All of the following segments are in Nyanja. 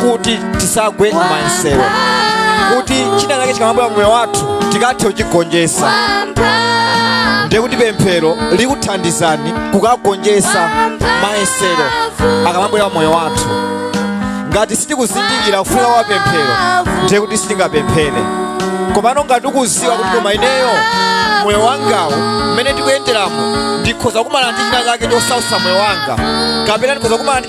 kuti tisagwe m'mayesero kuti china chake chikamabwera pamoyo wathu tikathe kuchigonjetsa ndiye kuti pemphero likuthandizani kukagonjetsa mayesero akamabwera pamoyo wathu ngati sitikuzindikira kufunika kwa pemphero ndiye kuti sitingapemphere komano ngati ukuziwa kuti koma ineyo moyo wangawu mmene ndikuyenderamu ndikhoza kumana ndi china chake chosausa moyo wanga kapena ndikhoza kumana ndi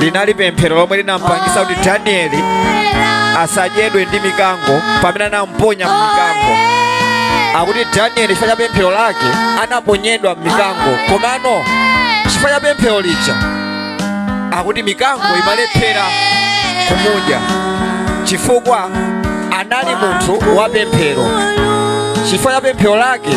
linali pemphero lomwe linampangisa kuti danieli asadyedwe ndi mikango pamene anamuponya m'mikango akuti danieli chifukwa cha pemphero lake anaponyedwa m'mikango komano chifukwa cha pemphero lija akuti mikango imalephera kumudya chifukwa anali munthu wa pemphero chifukwa cha pemphero lake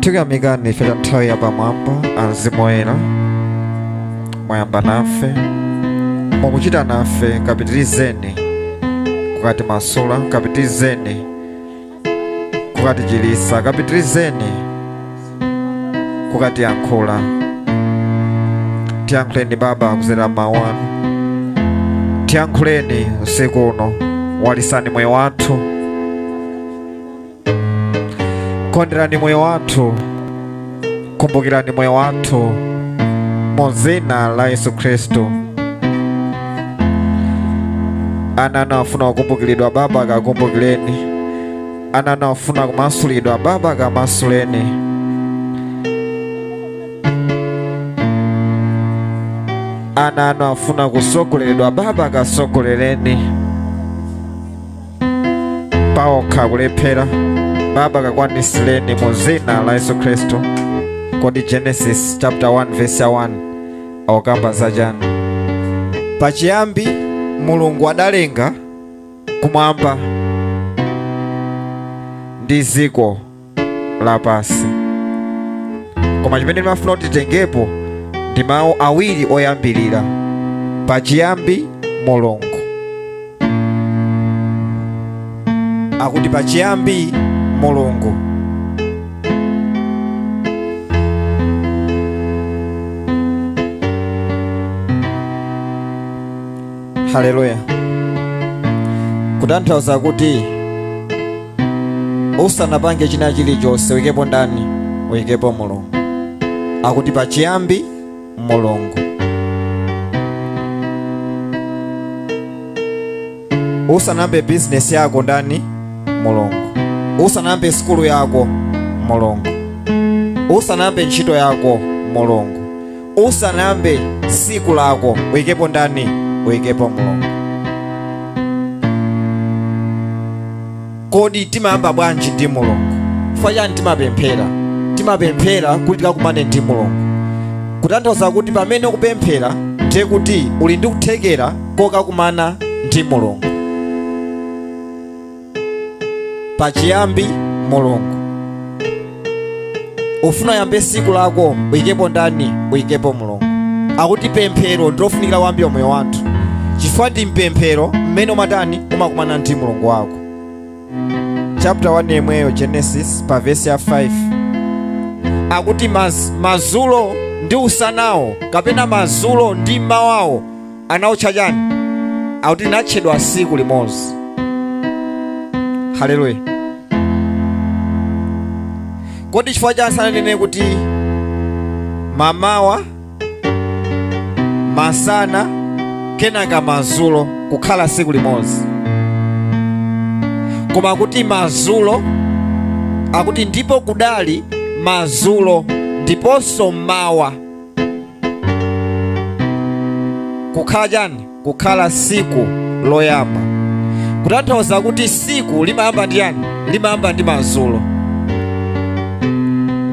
tikuyamikani chifukwa cha nthawi ya pamwamba amzimu oyera mwayamba nafe mukuchita nafe kapitirizeni kukatimasula kapitirizeni kukatichiritsa kapitirizeni kukatiyankhula tiyankhuleni baba kudzera mawu anu tiyankhuleni usiku uno walitsani moyo wathu konderani moyo wathu kumbukirani moyo wathu mu dzina la yesu khristu ana anu afuna kukumbukiridwa baba kawakumbukireni ana anu afuna kumasulidwa baba kamasuleni ana anu afuna kutsogoleredwa baba katsogolereni paokha akulephera baba kakwaniritsireni mu dzina la yesu khristu kodi genesis chapter 1 verse 1 akukamba za chani pachiyambi mulungu adalenga kumwamba ndi dziko lapansi koma chimene ndimafuna titengepo ndi mawu awiri oyambirira pachiyambi mulungu akuti pachiyambi mulungu haleluya kutanthauza kuti usanapange china chilichonse uyikepo ndani uyikepo mulungu akuti pachiyambi mulungu usanayambe bizinesi yako ndani mulungu usanayambe sukulu yako mulungu usanayambe ntchito yako mulungu usanayambe tsiku lako uyikepo ndani uyikepo mulungu kodi timayamba bwanji ndi mulungu chifukwa chani timapemphera timapemphera kuti tikakumane ndi mulungu kutanthauza kuti pamene ukupemphera ndiye kuti uli ndi kuthekera kokakumana ndi mulungu pachiyambi mulungu ufuna uyambe siku lako uyikepo ndani uyikepo mulungu akuti pemphero ndilofunikira kwambiri mmoyo wathu chifukwa ndi mpemphero mmene umatani umakumana ndi mulungu wako chapter 1 yemweyo genesis pa vesi ya 5 akuti maz, mazulo ndi usanawo kapena mazulo ndi mmawawo anautcha chani akuti linatchedwa tsiku limodzi haleluya kodi chifukwa chani sananene kuti mamawa masana kenaka mazulo kukhala tsiku limodzi koma kuti mazulo akuti ndipo kudali mazulo ndiponso mawa kukhala chani kukhala siku loyamba kutanthauza kuti siku limayamba ndi chani limayamba ndi mazulo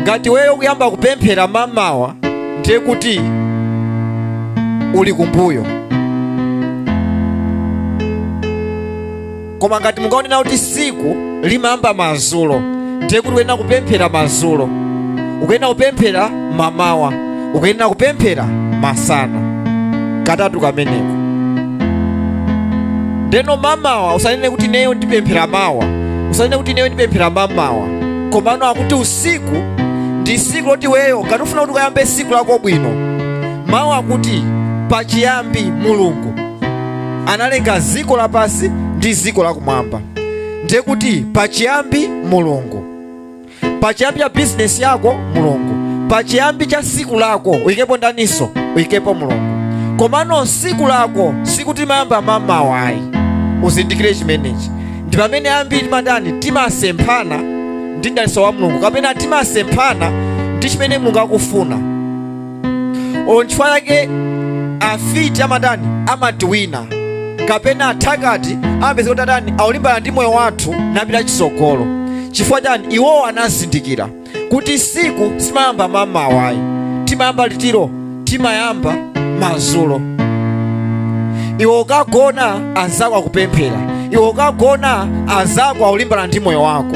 ngati weyo ukuyamba kupemphera mamawa ndiye kuti uli kumbuyo koma ngati mungaone kuti siku limayamba madzulo ndiye kuti ukuyenera kupemphera madzulo ukuyenera kupemphera mamawa ukuyenera kupemphera masana katatu kameneko ndeno mamawa usanene kuti neyo ndipemphera mawa usanene kuti neyo ndipemphera mamawa komano akuti usiku ndi siku loti weyo ngati ufuna kuti ukayambe siku lako bwino mawu akuti pachiyambi mulungu analenga dziko lapansi ndi dziko lakumwamba ndiye kuti pachiyambi mulungu pachiyambi cha bizinesi yako mulungu pachiyambi cha siku lako uyikepo ndaniso uyikepo mulungu komano siku lako sikuti limayamba mamawa ayi uzindikire chimenechi ndi pamene ambiri timatani timasemphana ndi ndaniso wa mulungu kapena timasemphana ndi chimene mulungu akufuna onchifukwa chake afiti amatani amati wina kapena athakati amapeza kuti atani akulimbana ndi moyo wathu napita chitsogolo chifukwa chani iwowo anazindikira kuti siku simayamba mamawa ayi limayamba litiro limayamba mazulo iwe ukagona azako akupemphera iwe ukagona azako akulimbana ndi moyo wako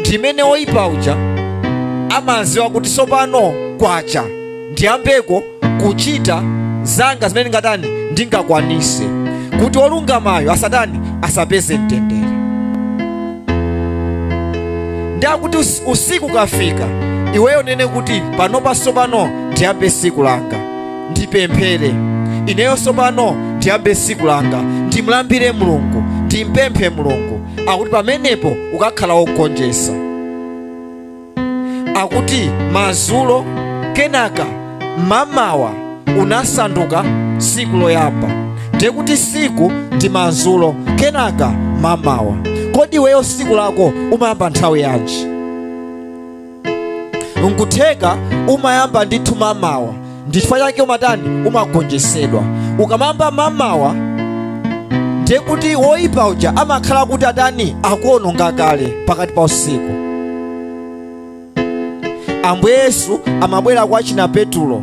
ndi mmene woyipa uja amaziwa kuti sopano kwacha ndiyambeko kuchita zanga zimene ngatani ndingakwanise kuti wolungamayo asatani asapeze mtendere nde akuti us- usiku ukafika iweyo unene kuti panopa sopano ndiyambe siku langa ndipemphere ineyo tsopano ndiyambe tsiku langa ndimulambire mulungu ndimpemphe mulungu akuti pamenepo ukakhala wogonjesa akuti mazulo kenaka mamawa unasanduka tsiku loyamba ndiye kuti tsiku ndi mazulo kenaka mamawa kodi iweyo tsiku lako umayamba nthawi yanji nkutheka umayamba ndithu mamawa ndichifukwa chake umatani umagonjesedwa ukamayamba mamawa ndiye kuti woyipa uja amakhala kuti atani akuononga kale pakati pa usiku ambuye yesu amabwera kwa achina petulo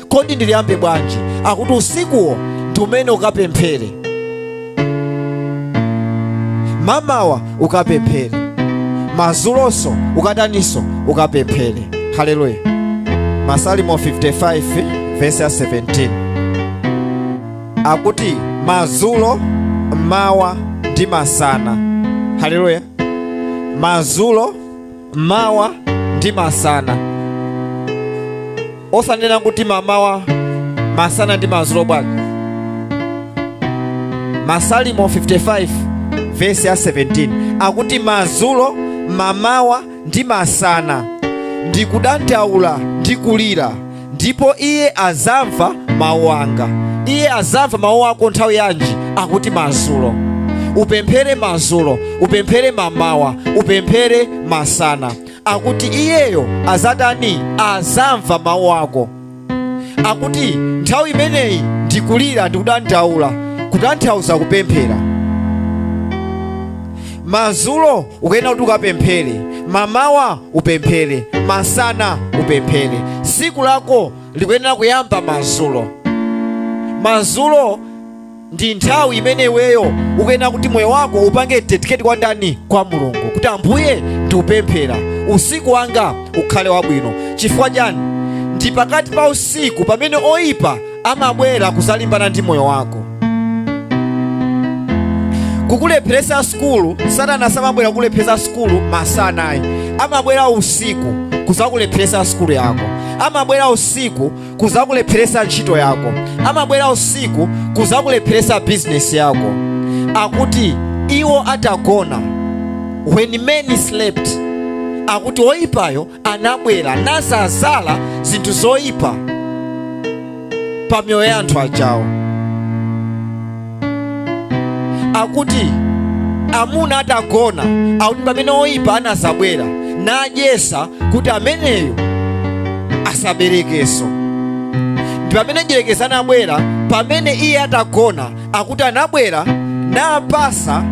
kodi ndiliyambe bwanji akuti usikuwo ndi umene ukapemphere mamawa ukapemphere mazulonso ukataninso ukapemphere haleluya masalimo 55 vesi ya 17 akuti mazulo mawa ndi masana haleluya mazulo mawa ndi masana osanena kuti mamawa masana ndi madzulo bwanji masalimo 55 vesi ya 17 akuti madzulo mamawa ndi masana ndikudandaula ndi kulira ndipo iye azamva mawu anga iye azamva mawu ako nthawi yanji akuti madzulo upemphere madzulo upemphere mamawa upemphere masana akuti iyeyo azatani azamva mawu ako akuti nthawi imeneyi ndi kulira ndi kudandaula kutanthauza kupemphera mazulo ukuyenera kuti ukapemphere mamawa upemphere masana upemphere siku lako likuyenera kuyamba mazulo mazulo ndi nthawi imene iweyo ukuyenera kuti moyo wako upange dedicate kwa ndani kwa mulungu kuti ambuye ndikupemphera usiku wanga ukhale wabwino chifukwa chani ndi pakati pa usiku pamene oyipa amabwera kuzalimbana ndi moyo wako kukulepheresa sukulu satana samabwera kukulepheresa sukulu masanayi amabwera usiku kuzakulepheresa sukulu yako amabwera usiku kuzakulepheresa ntchito yako amabwera usiku kuzakulepheresa bizinesi yako akuti iwo atagona when many slept akuti oyipayo anabwera nazazala zinthu zoyipa pa miyoyo ya anthu ajawo akuti amuna atagona akuti npamene oyipa anazabwera nayesa kuti ameneyu asaberekenso ndi pamene mdyerekezi anabwera pamene iye atagona akuti anabwera napasa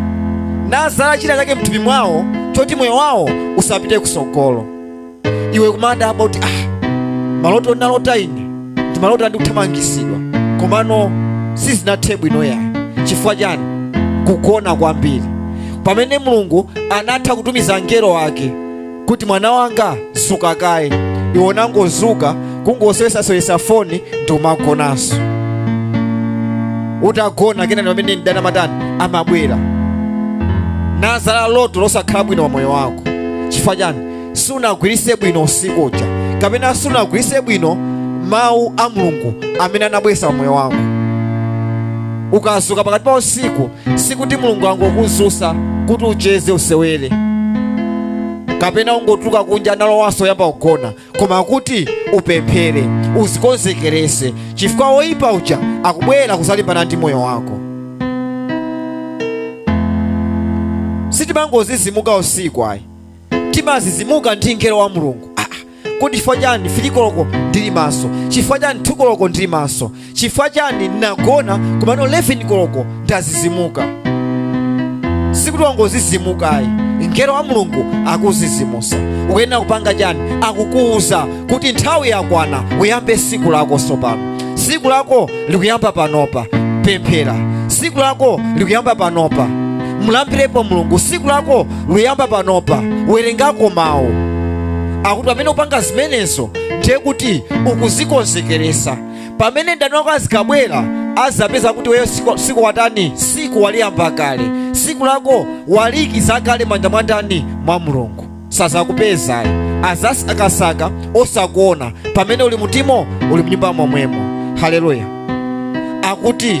nazala china chake mthupi mwawo choti moyo wawo usapite kusogolo iwe kumadabwa kuti ah, maloto ndinalota ine ndi maloto a ndikuthamangitsidwa komano sizinathe bwino yayi chifukwa chani kugona kwambiri pamene mulungu anatha kutumiza mngelo wake kuti mwana wanga zuka kaye iwe unangozuka kungosewesasewesa foni ndi umagonanso utagona kenani mpamene mdani amatani amabwera nazala loto losakhala bwino wa moyo wako chifukwa chani sunagwiritse bwino usiku uja kapena sunagwiritse bwino mawu a mulungu amene anabweretsa pa moyo wako ukazuka pakati pa usiku sikuti mulungu wangokuzusa kuti ucheze usewere kapena ungotuluka kunja nulowanso uyambe kugona koma kuti upemphere uzikonzekerese chifukwa woyipa uja akubwera kuzalimbana ndi moyo wako sitimangozizimuka usiku ayi timazizimuka ndi mngelo wa mulungu kodi chifukwa chani fili koloko ndili maso chifukwa chani thu koloko ndili maso chifukwa chani ndinagona komano 11 koloko ndazizimuka sikuti wangozizimukayi mngelo wa mulungu wakuzizimusa ukuyenera kupanga chani akukuwuza kuti nthawi yakwana uyambe siku lako sopano siku lako likuyamba panopa pemphera siku lako likuyamba panopa mulambirepo mulungu siku lako luyamba panopa werengako mawu akuti pamene upanga zimenezo ndiye kuti ukuzikonzekeresa pamene mdani wako azikabwera azapeza kuti weyo siku watani siku waliyamba kale siku lako waliikiza kale mmanja mwa ndani mwa mulungu sazakupezayi azasakasaka osakuona pamene uli mutimo uli mnyumba momwemo haleluya akuti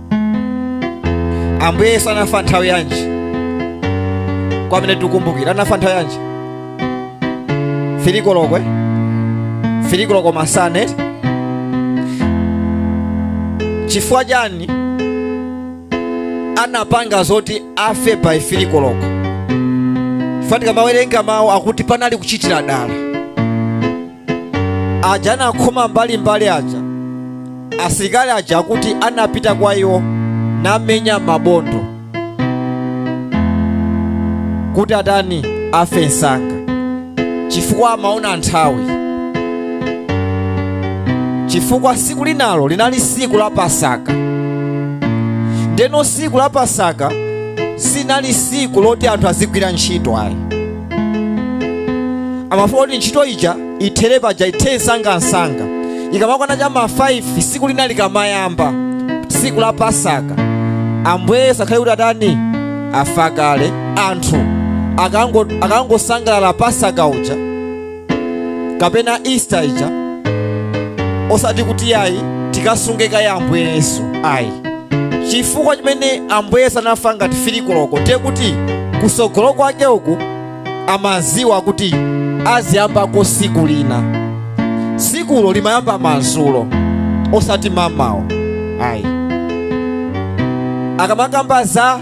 ambuye yesu anafa nthawi yanji kwa amene tikukumbukira anafa nthawi yanji fili koloko fili koloko masane chifukwa chani anapanga zoti afe by fili koloko chifukwa tikamawerenga mawu akuti panali kuchitira dala aja anakhoma mbalimbali aja asilikali aja akuti anapita kwa iwo namenya mabondo kuti atani afe msanga chifukwa amaona nthawi chifukwa siku linalo linali siku la pasaka ndeno siku la pasaka sinali siku loti anthu azigwira ntchito ayi amafuna kuti ntchito ija ithere paja ithe msangamsanga ikamakwana cha ma 5 siku lina likamayamba siku la pasaka ambuye yesu akhale kuti atani afa kale anthu akango- akangosangalala pasaka uja kapena easter ija osati kuti ayi tikasunge kaye ambuye yesu ayi chifukwa chimene ambuye yesu anafa ngati fili koloko ndiye kuti kusogolo kwake uku amaziwa kuti aziyambako siku lina sikulo limayamba mazulo osati mamawa ayi akamakamba za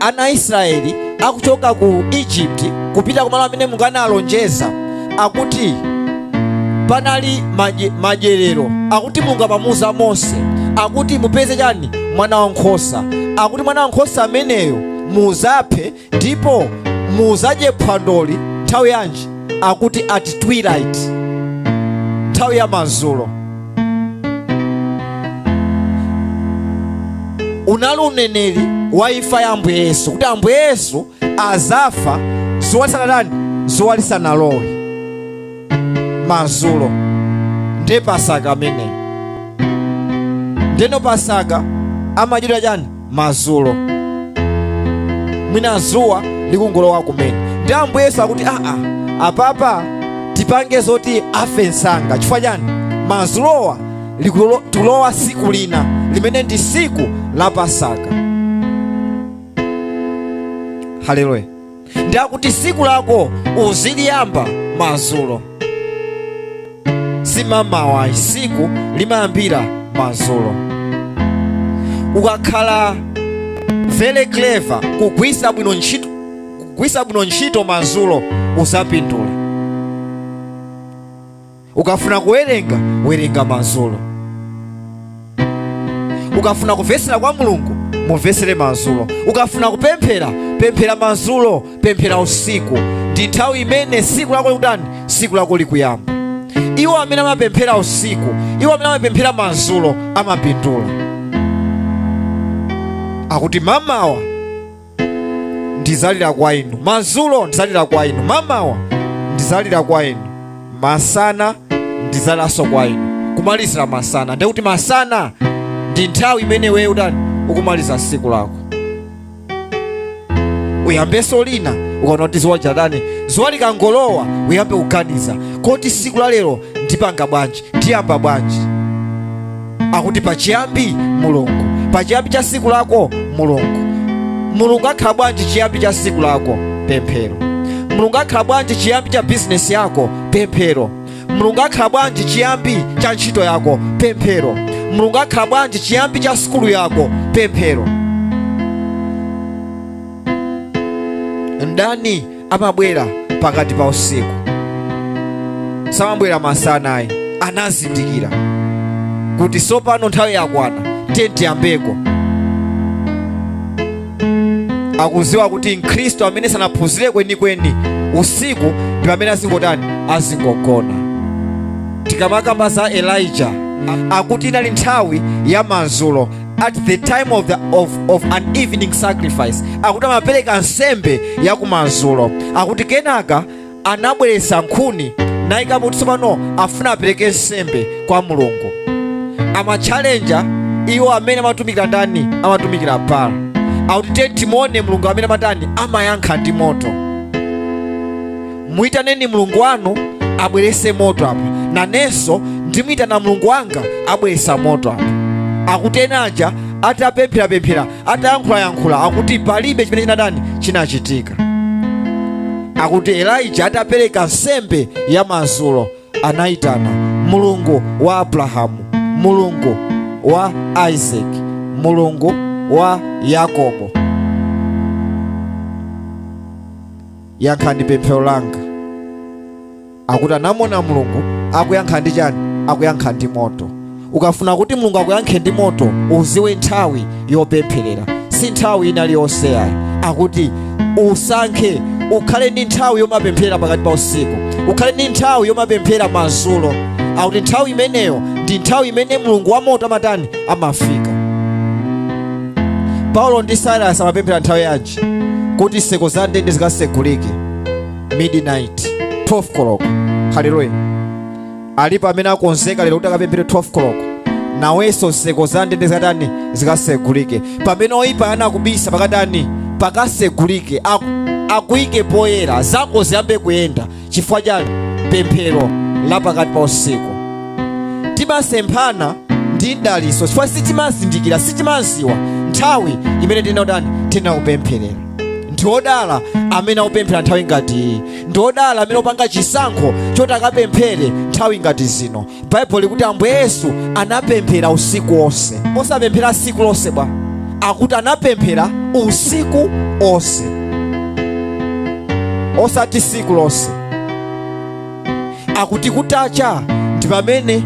ana a Israeli akuchoka ku Egypt kupita kumalo amene Mulungu analonjeza akuti panali madye- madyerero akuti Mulungu amamuuza Mose akuti mupeze chani mwana wa nkhosa akuti mwana wa nkhosa ameneyo muzaphe ndipo muzadye phwandoli nthawi yanji akuti at twilight nthawi ya madzulo unali uneneri wa imfa ya ambuye yesu kuti ambuye yesu azafa zuwa lisanatani zuwa lisanalowe mazulo ndiye pasaka ameneyi ndeno pasaka amadyedwa chani madzulo mwina dzuwa likungolowa kumene nde ambuye yesu akuti aa apapa tipange zoti afe msanga chifukwa chani madzulowa likulo- tulowa siku lina limene ndi siku la pasaka haleluya nde kuti siku lako uziliyamba mazulo simamawa siku limayambira mazulo ukakhala very clever kugwisa bwino ntchito kugwisa bwino ntchito mazulo uzapindula ukafuna kuwerenga werenga madzulo ukafuna kumvetsera kwa mulungu umvetsere madzulo ukafuna kupemphera pemphera madzulo pemphera usiku ndi nthawi imene siku lako likutani siku lako likuyamba iwo amene amapemphera usiku iwo amene amapemphera madzulo amapindula akuti mamawa ndizalira kwa inu mazulo ndizalira kwa inu mamawa ndizalira kwa inu masana ndizaliraso kwa inu kumalizira masana ndiye kuti masana ndi nthawi imene iwe utani ukumaliza siku lako uyambeso lina ukaona kuti ziwa latani ziwa likangolowa uyambe kuganiza kodi siku la lero ndipanga bwanji ndiyamba bwanji akuti pachiyambi mulungu pachiyambi cha siku lako mulungu mulungu akhala bwanji chiyambi cha siku lako pemphero mulungu akhala bwanji chiyambi cha bizinesi yako pemphero mulungu akhala bwanji chiyambi cha ntchito yako pemphero mulungu akhala bwanji chiyambi cha sukulu yako pemphero ndani amabwera pakati pa usiku samabwera masana ayi anazindikira kuti sopano nthawi yakwana kuti tiyambeko akuziwa kuti mkhristu amene sanaphunzire kwenikweni usiku ndi pamene azingotani azingogona tikamakamba za elija akuti inali nthawi ya mazulo at the time of an evening sacrifice akuti amapereka nsembe yakumadzulo akuti kenaka anabweretsa nkhuni nayikapo kuti tsopano afuna apereke nsembe kwa mulungu amatchalenja iwo amene amatumikira ndani amatumikira bala akuti tiye tione mulungu amene amatani amayankha ndi moto muyitaneni mulungu wanu abwerese moto apa nanenso ndimuyitana mulungu wanga abweresa moto apa akuti ena aja atapempherapemphera atayankhulayankhula akuti palibe chimene chinatani chinachitika akuti elija atapereka nsembe ya madzulo anayitana mulungu wa abrahamu mulungu wa isaki mulungu wa yakobo yankhani pemphero langa akuti anamuona mulungu akuyankha ndi chani akuyankha ndi moto ukafuna kuti mulungu akuyankhe ndi moto uziwe nthawi yopempherera si nthawi ina iliyonse yayi akuti usankhe ukhale ndi nthawi yomapemphera pakati pa usiku ukhale ndi nthawi yomapemphera madzulo akuti nthawi imeneyo ndi nthawi imene mulungu wa moto amatani amafika paulo ndi silas amapemphera nthawi yanji kuti nseko za ndende zikasegulike midnight 12 koloko haleluya alipo amene akonzeka lero kuti akapemphere 12 koloko nawenso nseko za ndende zikatani zikasegulike pamene oyipa anakubisa pakatani pakasegulike aku- akuyike poyera zako ziyambe kuyenda chifukwa cha pemphero la pakati pa usiku timasemphana ndi mdaliso chifukwa sitimazindikira sitimaziwa nthawi imene tinautani tinaupempherera ndiodala amene akupemphera nthawi ngati iyi ndiodala amene akupanga chisankho choti akapemphere nthawi ngati zino baibulo likuti ambuye yesu anapemphera usiku wonse osapemphera siku lonse bwa akuti anapemphera usiku onse osati siku lonse akuti kutacha ndi pamene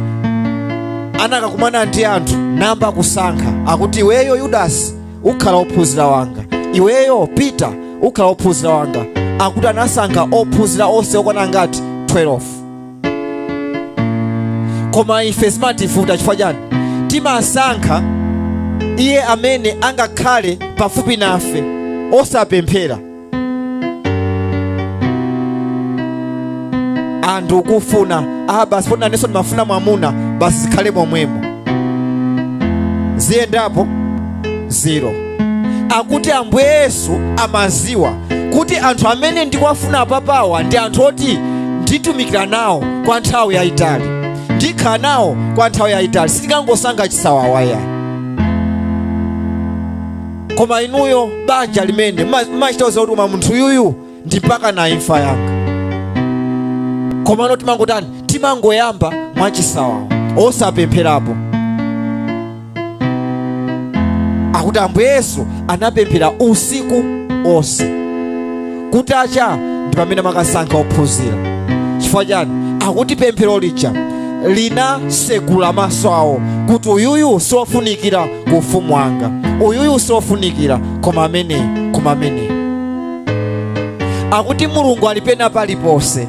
anakakumana ndi anthu nayamba kusankha akuti iweyo yudasi ukhala ophunzira wanga iweyo pita ukhala ophunzira wanga akuti anasankha ophunzira onse okwana ngati 12 koma ife zimativuta chifukwa chani timasankha iye amene angakhale pafupi nafe osapemphera anthu akufuna ah basi poti nanenso ndimafuna mwamuna basi zikhale momwemo ziyendapo zero akuti ambuye yesu amaziwa kuti anthu amene ndikuwafuna apapawa ndi anthu oti nditumikira nawo kwa nthawi yayitali ndikhala nawo kwa nthawi yayitali sitingangosankha chisawawa ayi koma inuyo banja limene mma- mmachita kuuza kuti koma munthu yuyu ndi mpaka na imfa yanga komano timangotani timangoyamba mwachisawawa osapempherapo akuti ambuye yesu anapemphera usiku onse kutacha ndi pamene amakasankha ophunzira chifukwa chani akuti pemphero lija linasegula maso awo kuti uyuyu siwofunikira ku ufumu wanga uyuyu siwofunikira koma amene koma amene akuti mulungu ali pena paliponse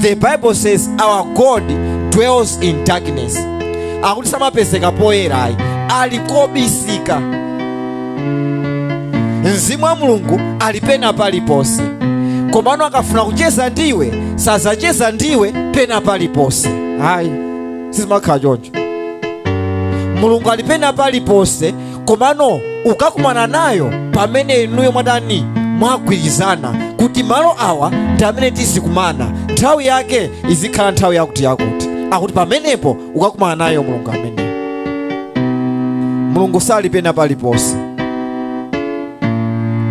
the bible says our god dwells in darkness akuti samapezeka poyera ayi ali kobisika mzimu wa mulungu ali pena paliponse komano akafuna kucheza ndiwe sazacheza ndiwe pena paliponse ayi sizimakhala choncho mulungu ali pena paliponse komano ukakumana nayo pamene inuyo mwatani mwagwirizana kuti malo awa ndi amene tizikumana nthawi yake izikhala nthawi yakuti yakuti akuti pamenepo ukakumana nayo mulungu ameneyo mulungu sali pena paliponse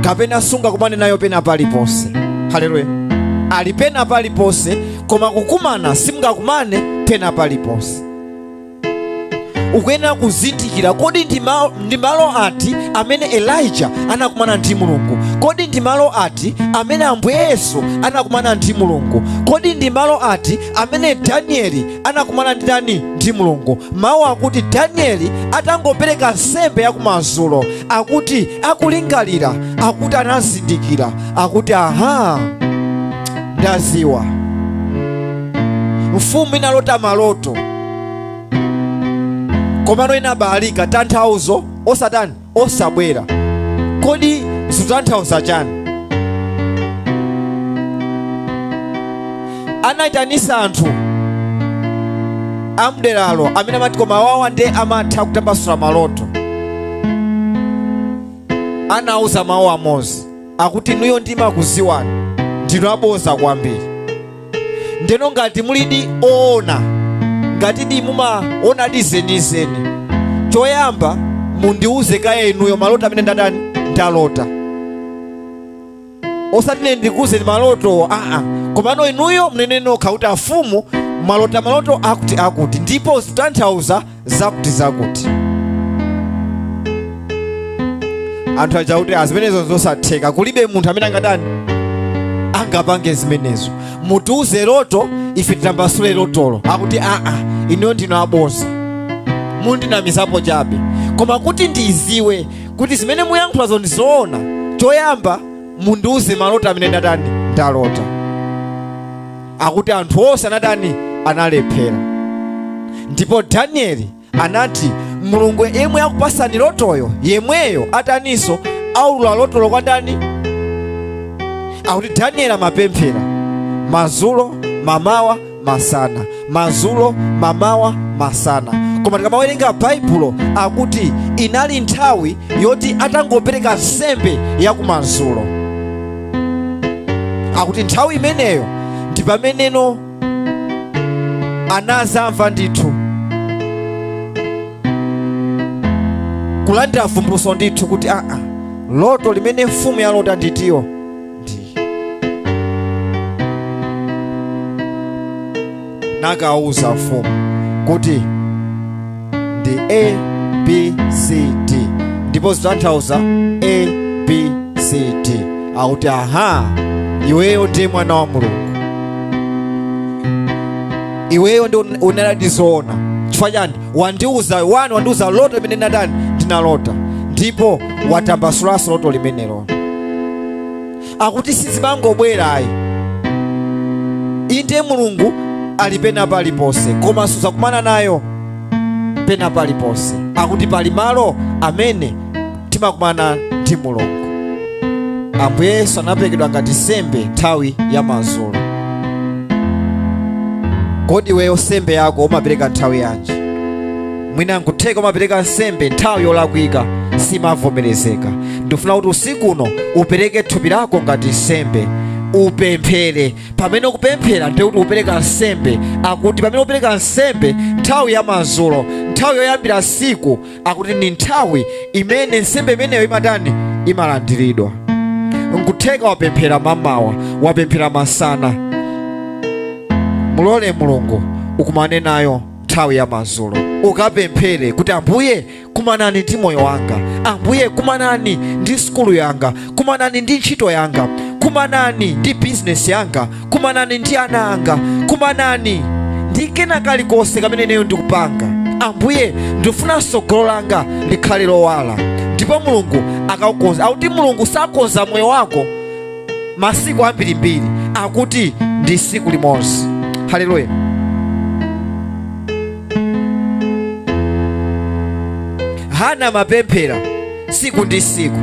kapena sungakumane nayo pena paliponse haleluya ali pena paliponse koma kukumana simungakumane pena paliponse ukuyenera kuzindikira kodi ndi ma- ndi malo ati amene elija anakumana ndi mulungu kodi ndi malo ati amene ambuye yesu anakumana ndi mulungu kodi ndi malo ati amene danieli anakumana ndi ndani ndi mulungu mawu akuti danieli atangopereka nsembe yakumadzulo akuti akulingalira akuti anazindikira akuti aha ndaziwa mfumu inalota maloto komano inabalalika tanthauzo osatani osabwera kodi zikutanthauza chani anaitanisa anthu amderalo amene amati koma awawa nde amatha kutambasula maloto anauza mawu amodzi akuti inuyo ndimakuziwani ndinu aboza kwambiri ndeno ngati mulidi oona ngati di mumaonadi zenizeni choyamba mundiuze kaye inuyo maloto amene ndatani ndalota osati ine ndikuuzeni maloto aa komano inuyo munene nokha kuti afumu mwalota maloto akuti akuti ndipo zitanthauza zakuti zakuti anthu aja akuti aa zimenezo zosatheka kulibe munthu amene angatani angapange zimenezo mutiuze loto ife titambasule lotolo akuti aa ineyo ndinu aboza mundinamizapo chabe koma kuti ndiziwe kuti zimene muyankhulazo ndizoona choyamba mundiuze maloto amene ndatani ndalota akuti anthu onse anatani analephera ndipo danieli anati mulungu yemwe akupasani lotoyo yemweyo ataninso aulula lotolo kwa ndani akuti danieli amapemphera mazulo mamawa masana mazulo mamawa masana koma tikamawerenga baibulo akuti inali nthawi yoti atangopereka nsembe yakumazulo akuti nthawi imeneyo ndi pameneno anazamva ndithu kulandira vumbuluso ndithu kuti aa loto limene mfumu yalota nditiyo nakauza mfumu kuti ndi abcd ndipo zitanthauza abcd akuti aha iweyo ndiye mwana wa mulungu iweyo ndi un- unadziwadi zoona chifukwa chani wandiuza wani wandiuza loto limene ndinatani ndinalota ndipo watambasulanso loto limenelo akuti sizimangobwera ayi inde mulungu ali pena paliponse koma suzakumana nayo pena paliponse akuti pali malo amene timakumana ndi mulungu ambuye yesu anaperekedwa ngati sembe nthawi ya madzulo kodi iweyo sembe yako umapereka nthawi yanji mwina nkutheka umapereka nsembe nthawi yolakwika simavomerezeka ndifuna kuti usiku uno upereke thupi lako ngati nsembe upemphere pamene ukupemphera ndiye kuti upereka nsembe akuti pamene upereka nsembe nthawi ya madzulo nthawi yoyambira siku akuti ndi nthawi imene nsembe imeneyo imatani imalandiridwa nkutheka wapemphera mamawa wapemphera masana mulole mulungu ukumane nayo nthawi ya madzulo ukapemphere kuti ambuye kumanani ndi moyo wanga ambuye kumanani ndi sukulu yanga kumanani ndi ntchito yanga kumanani ndi bizinesi yanga kumanani ndi ana anga kumanani ndi kena kalikonse kamene ineyo ndikupanga ambuye ndifuna tsogolo langa likhale lowala ndipo mulungu akakukonza akuti mulungu sakonza moyo wako masiku ambirimbiri akuti ndi siku limodzi haleluya hana amapemphera siku ndi siku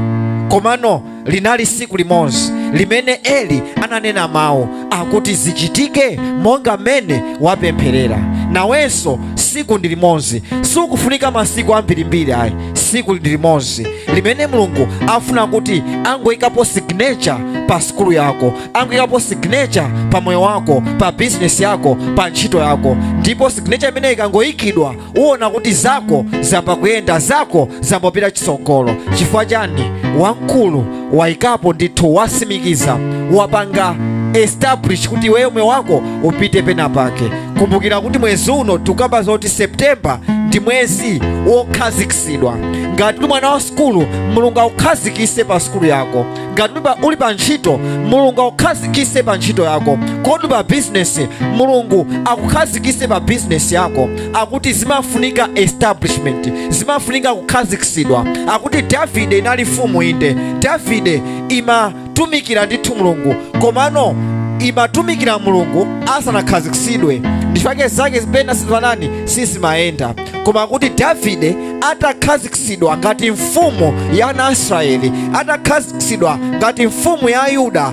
komano linali siku limodzi limene eli ananena mawu akuti zichitike monga mmene wapempherera nawenso siku ndi limodzi sukufunika masiku ambirimbiri ayi siku ndi limozi limene mulungu afuna kuti angoyikapo signature pa sikulu yako angoyikapo signature pa moyo wako pa bizinesi yako pa ntchito yako ndipo signature imeneyi ikangoyikidwa uona kuti zako zamba kuyenda zako zambopita chitsogolo chifukwa chani wamkulu waikapo ndithu wasimikiza wapanga establish kuti iweyo moyo wako upite pena pake kumbukira kuti mwezi uno tukamba zoti september ndi mwezi wokhazikitsidwa ngati uli mwana wa sukulu mulungu akukhazikise pa sukulu yako ngati uli pa- uli pa ntchito mulungu akukhazikise pa ntchito yako kodi pa bizinesi mulungu akukhazikise pa bizinesi yako akuti zimafunika establishment zimafunika kukhazikitsidwa akuti davide inali mfumu inde davide imatumikira ndithu mulungu komano imatumikira mulungu asanakhazikitsidwe ndi chake zake zina pena sizimanani sizimayenda koma akuti davide atakhazikitsidwa ngati mfumu ya ana a israeli atakhazikitsidwa ngati mfumu ya yuda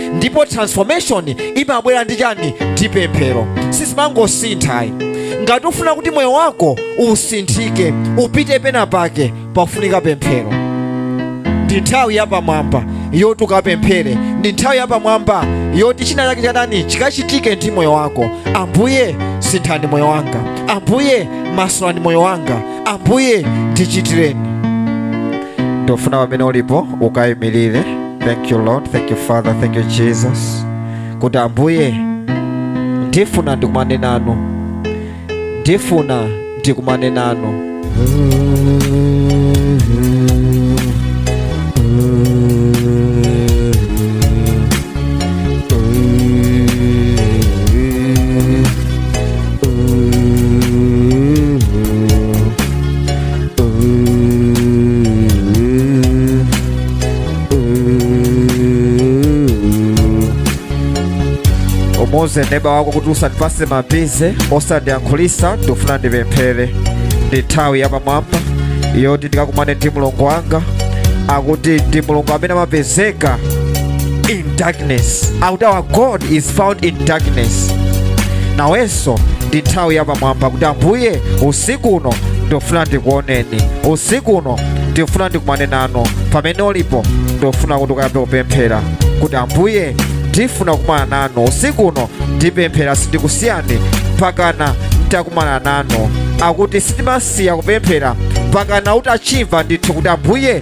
ndipo transformation imabwera ndi chani ndi pemphero sizimangosintha ayi ngati ufuna kuti moyo wako usinthike upite pena pake pafunika pemphero ndi nthawi yapamwamba yoti ukapemphere ndi nthawi yapamwamba yoti china chake chatani chikachitike ndi moyo wako ambuye sinthani moyo wanga ambuye masulani moyo wanga ambuye ndichitireni ndofuna pamene ulipo ukayimirire thank you lord thank you father thank you jesus kuti ambuye ndifuna ndikumane nanu ndifuna ndikumane nanu umuuze neba wako kuti usandipase mabize usandiyankhulise ndifuna ndipemphere ndi nthawi yapamwamba yoti ndikakumane ndi mulungu wanga akuti ndi mulungu amene amapezeka in darkness akuti our god is found in darkness nawenso ndi nthawi yapamwamba kuti ambuye usiku uno ndofuna ndikuoneni usiku uno ndifuna ndikumane nanu pamene ulipo ndofuna kuti ukayambe kupemphera kuti ambuye ndifuna kukumana nanu usiku uno ndipemphera sindikusiyani mpakana nditakumana nanu akuti sitimasiya kupemphera mpakana utachimva ndithu kuti ambuye